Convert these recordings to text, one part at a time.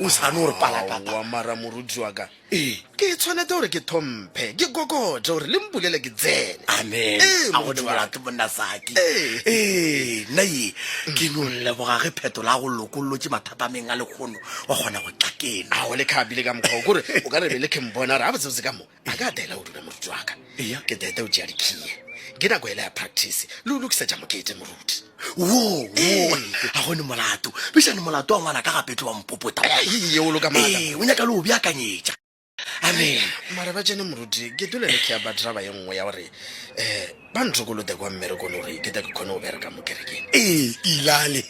o sa no re pala papa. Aowa mara moruti wa ka. Ee, ke tshwanete gore ke thomphe, ke kokothe gore le mpulele ke tsene. Amen. Ee, A go moruti wa ka. dimolato monna Saki. Ee. Ee, nna ye ke no leboga ge phetola a go lokollotše mathata a meng a lekgono wa kgona go tla keno. Ao le khabile ka mokgwa o, kore o ka re bele ke mbona gore gabotsebotse ka mo. a ka taela o dula moruti wa ka Eya. ke tete o tšea dikhiye ke nako ele ya practice le o lokisetša mokete moruti wo Ee. wo ga gone molato bešane molato wa ngwana ka gape tlo wa mpopota Ee, o loka maaka. Ee, o nyaka le o beakanyetša amen mare ba tsene moruti ke tole le kea badraba ye nngwe ya gore um ba nthokolote kwa mmerekong gore ke ta ke kgone go bereka mo kerekeng ee ke ilale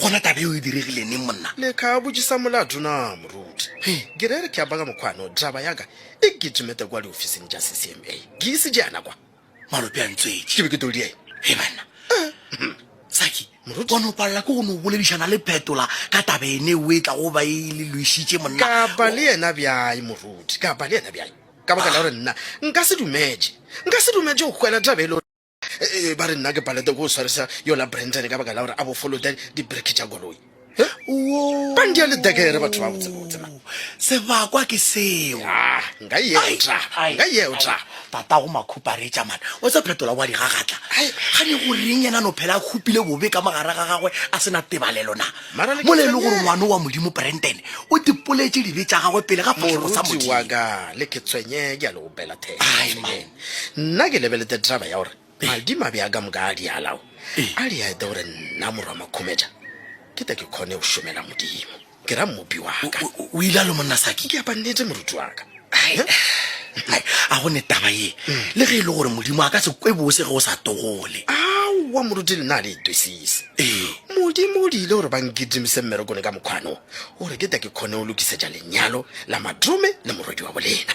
gona tabe o e diregile neng monna le ka botšisa molato na moruti ke re re ke apaka mokgwano draba yaka e ke tšemete kwa diofising tša ccma ke ise jana kwa malope a ntswetše ke be ke toldi eng e banna saki gona o palela ke go no boledišana le phetola ka tabe ene o e tla go ba e le loišitše monna ka ba le yena bjai moruti ka ba le yena bjai ka baka la gore nna nka se dumetše nka se dumetše go kgwela tabe e le Eh, ba re nna ke palete ko o swarisa yola brenton ka baka la gore a bofolote dibreke tša koloi Wo. Bandi ya ledekere batho ba botsebotse man. sebakwa ke seo Ah, nka e Ai, eotla ai, nka e ai. eotla tata go makhuparetša mane o se phetola wa digagatla Ai. ga ne go reng yena no phela a khupile bobe ka mogare ga gagwe a sena tebalelo na Mara le ke mole e le gore tshwenyege. ngwane wa modimo branden o dipoletše dibe tša gagwe pele ga fatlhego sa moruti wa modimo ka le ke tshwenye ke a le opela Ai, man. Nna ke lebelete traba ya gore madimabe a ka moka a dialao a di aete gore nna morwa makhumetša ke te ke khone go šomela modimo ke ra mmopi wa ka o ile a lo monna saki ke apa nnete moruti wa ka a go ne taba ye mm. le ge e le gore modimo a ka se kwe bose ge o sa togole aowa moruti le na le itwesise ee modimo o diile gore ba nkitimise mmerekone ka mokgwano gore ke te ke kgone go lokisetša lenyalo la madrome le morwedi wa bolena